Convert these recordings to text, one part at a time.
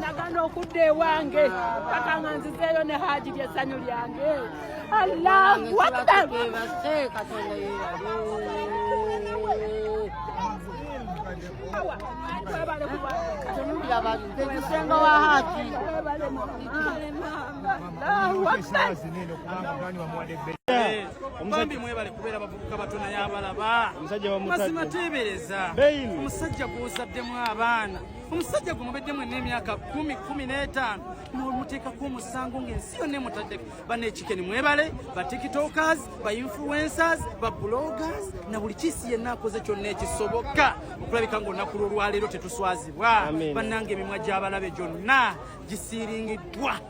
nagana okudda ewange paka nga nzizeeyo ne haji lyesanyu lyange allahu akbar bambi mwebale kubeera bavubuka bato naye abalaba mazima teebereza omusajja gw'ozaddemu abaana omusajja gwe mubedde mwenna emyaka kumi kumi n'etaano nomuteekako omusango ng'ensi yonna emutaddeko banekikeni mwebale ba tiktokers ba influencers ba bloggers na buli kiisi yenna akoze kyonna ekisoboka okulabika ng'olunaku lw'olwaleero tetuswazibwa bannanga emimwa gy'abalabe gyonna gisiiringiddwa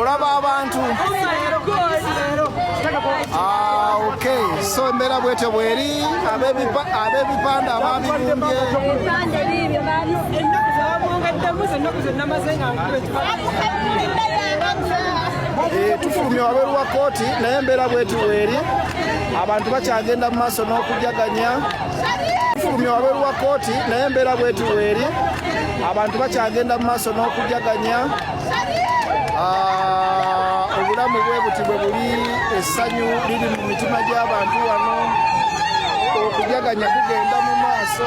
olaba abantu ah, okay so embeera bwetyo bweri ab'ebipande ababibumbye eh, tufulumye wabweru wa kooti naye embeera bweti bweri abantu bakyagenda mu maaso n'okujaganya fulumya wabweru wa kooti naye embeera bweti weeri abantu bakyagenda mu maaso n'okujaganya ah, obulamu bwe buti bwe buli essanyu liri mu mitima gy'abantu wano okujaganya kugenda mu maaso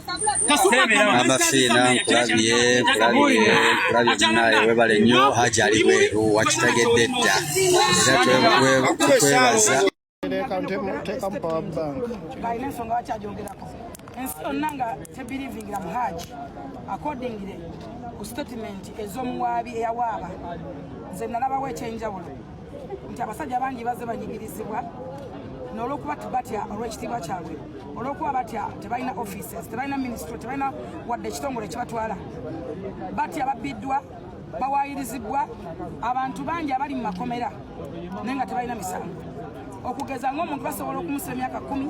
amafiina nkulabye nkulabye nkulabye munaye webale nnyo haji ali bweru wakitegedde dda era tukwebaza tekamu power bank balina ensonga bakyajongerako ensi yonna nga tebirivingira mu haji akordingire ku statement ez'omuwaabi eyawaaba nze nalabawo ekyenjawulo nti abasajja bangi bazze banyigirizibwa nolokuba batya olwekitiibwa kyabwe olwokuba batya tebalina offices tebalina ministry tebalina wadde ekitongole kibatwala batya babbiddwa bawayirizibbwa abantu bangi abali mu makomera naye nga tebalina misango okugeza ngaomuntu basobola okumusa emyaka kumi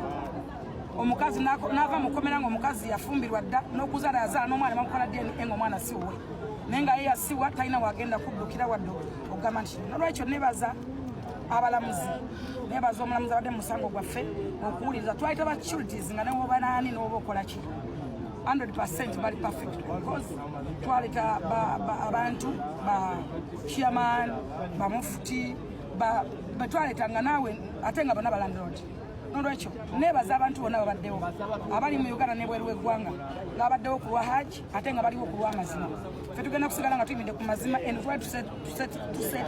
omukazi nava mukomera nga omukazi yafumbirwa dda nokuzala yazaala nomwana bamukola dna nga omwana siwuwe naye nga ye yasiwa talina wagenda kuddukira wadde okugamba nti nolwekyo nebaza abalamuzi nebaza omulamuzi abadde musango gwaffe okuwuliriza twali taba curities nga newoba naani noba okolaki 100 bali perfect because twaleta abantu ba chairman bamufuti betwaleta nga naawe ate nga bona balandlord nolwekyo nebaza abantu bona babaddewo abali mu uganda nebweru weggwanga nga abaddewo kulwa haji ate nga baliwo ku lw'amazima fe tugenda kusigala nga tuyimidde ku mazima and why to set, to set, to set.